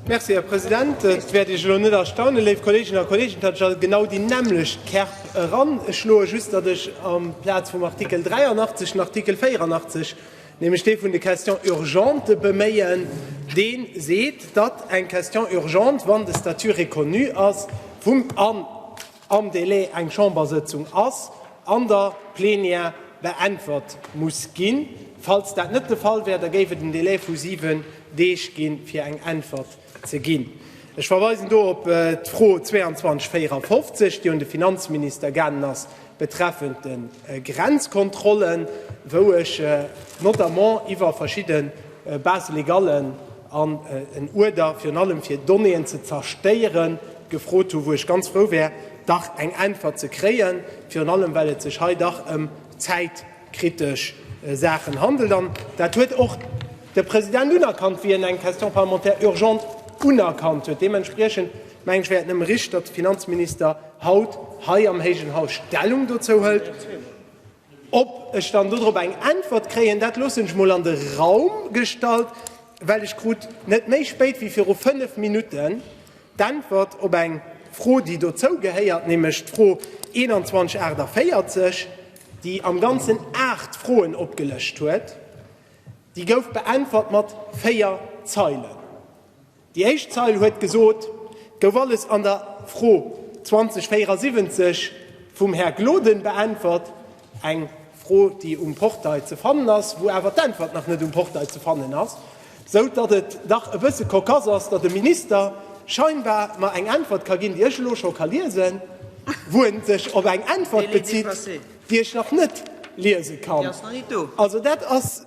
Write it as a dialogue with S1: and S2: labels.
S1: Merci, Här President. Et wäert Iech elo net erstaunen, léif Kolleeginnen a Kolleegen, datt ech a genau déi nämmlecht Kärp eranschloen, just datt ech amplaz vum Artikel 83 den Artikel 84, nämlech dee vun de Questions urgentes beméien, dee seet, datt eng Question urgente, wann de Statut reconnu ass vum, an am Délai eng Chambersëtzung ass, an der Plenière beäntwert muss ginn. Falls dat net de Fall wär, da géif et en Délai vu siwen Deeg ginn, fir eng Äntwert ze ginn. Ech verweisen do op d'Fro 2254, déi un de Finanzminister gaangen ass betreffend de Grenzkontrollen, wou ech notamment iwwer verschidde Base-légalen an en Uerder virun allem fir Donnéeën ze zerstéieren, gefrot hu wou ech ganz frou wär, dach eng Äntwert ze kréien, virun allem well et sech hei dach ëm zäitkritesch Saachen handelt. An dat huet och de President unerkannt, wéi en eng Question parlementaire urgente unerkannt huet. Deementspriechend mengen ech, wär et nëmme richteg, datt de Finanzminister haut hei am héijen Haus Stellung dozou hëlt. Ob ech dann dodrop eng Äntwert kréien, dat loossen ech mol an de Raum gestallt, well ech krut net méi spéit wéi viru fënnef Minutten d'Äntwert op eng Fro, déi dozou gehéiert, nämlech d'Fro 2148, déi am Ganzen aacht Froen opgelëscht huet. Déi gouf beäntwert mat véier Zeilen. Déi éischt Zeil huet gesot, et gouf alles an der Fro 2074 vum Här Gloden beäntwert, eng Fro, déi um Portail ze fannen ass, wou awer d'Äntwert nach net um Portail ze fannen ass, esou datt et dach e bësse cocasse ass, datt e Minister scheinbar mer eng Äntwert ka ginn, déi ech elo scho ka liesen, wou e sech op eng Äntwert bezitt, déi ech nach net liese kann. Also dat ass.